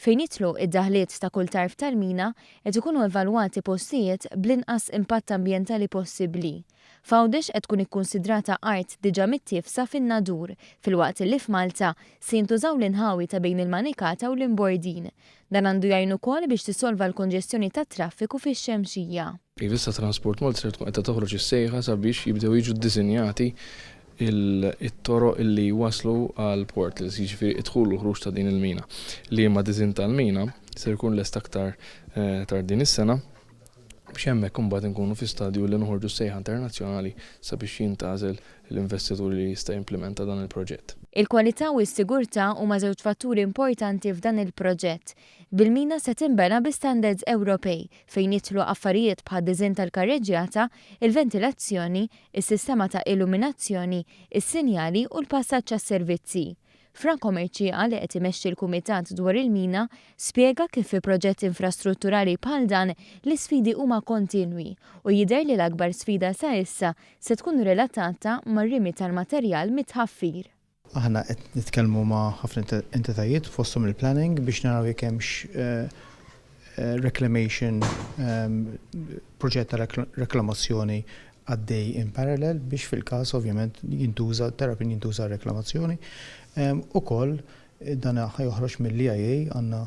Fejn jidħlu id-daħliet ta' kull tarf tal-mina, qed ikunu evalwati postijiet bl-inqas impatt ambjentali possibbli. F'Għawdex qed tkun ikkunsidrata art diġà mittiefsa fin-nadur, filwaqt li f'Malta se jintużaw l-inħawi ta' bejn il-Manikata u l-Imbordin. Dan għandu jgħin ukoll biex tissolva l-konġestjoni tat-traffiku fix-Xemxija. Iva issa Transport Malta ser tkun qiegħda toħroġ is-sejħa sabiex jibdew jiġu ddisinjati t-toroq li jwasslu għall-portals, jiġifieri d-dħul u l-ħruġ ta' din il-mina. Liema diżinn tal-mina ser ikun lest aktar tard din is-sena biex hemmhekk imbagħad inkunu fi stadju li noħorġu s-sejħa internazzjonali sabiex jintgħażel l-investitur li jista' jimplimenta dan il-proġett. Il-kwalità u s-sigurtà huma żewġ fatturi importanti f'dan il-proġett. bil-mina se tinbena bi standards Ewropej, fejn jidħlu affarijiet bħad-diżinn tal-karreġġjata, il-ventilazzjoni, is-sistema ta' illuminazzjoni, is-sinjali u l-passaġġ għas-servizzi. Fra Comercia, li qed imexxi l-Kumitat dwar il-Mina, spjega kif fi proġett infrastrutturali bħal dan l-isfidi huma kontinwi u jidher li l-akbar sfida sa issa se tkun relatata mar-rimi tal-materjal mit-tħaffir. Aħna qed nitkellmu ma' ħafna entitajiet fosthom il-planning biex naraw jekk hemmx reclamation proġett ta' reklamazzjoni għaddej in parallel biex fil-każ ovvjament jintuża terrapin jintuża għar-reklamazzjoni. Ukoll dan ħa joħroġ mill-EIA għandna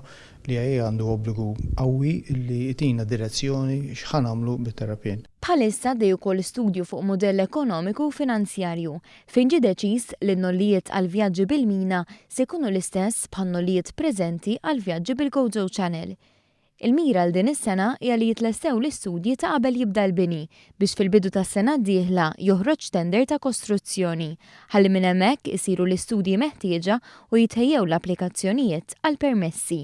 l-EIA għandu obbligu qawwi li jtina direzzjoni x'ħa nagħmlu bit-terrapien. Bħalissa għaddej ukoll studju fuq mudell ekonomiku u finanzjarju Fejn ġie deċiż li n-nollijiet għall-vjaġġi bil-mina se jkunu l-istess bħan-nollijiet preżenti għall-vjaġġi bil-GoJo Channel. Il-mira għal din is-sena hija li jitlestew l-istudji ta' qabel jibda l-bini biex fil-bidu tas-sena d-dieħla joħroġ tender ta' kostruzzjoni ħalli minn hemmhekk isiru l-istudji meħtieġa u jitħejjew l-applikazzjonijiet għall-permessi.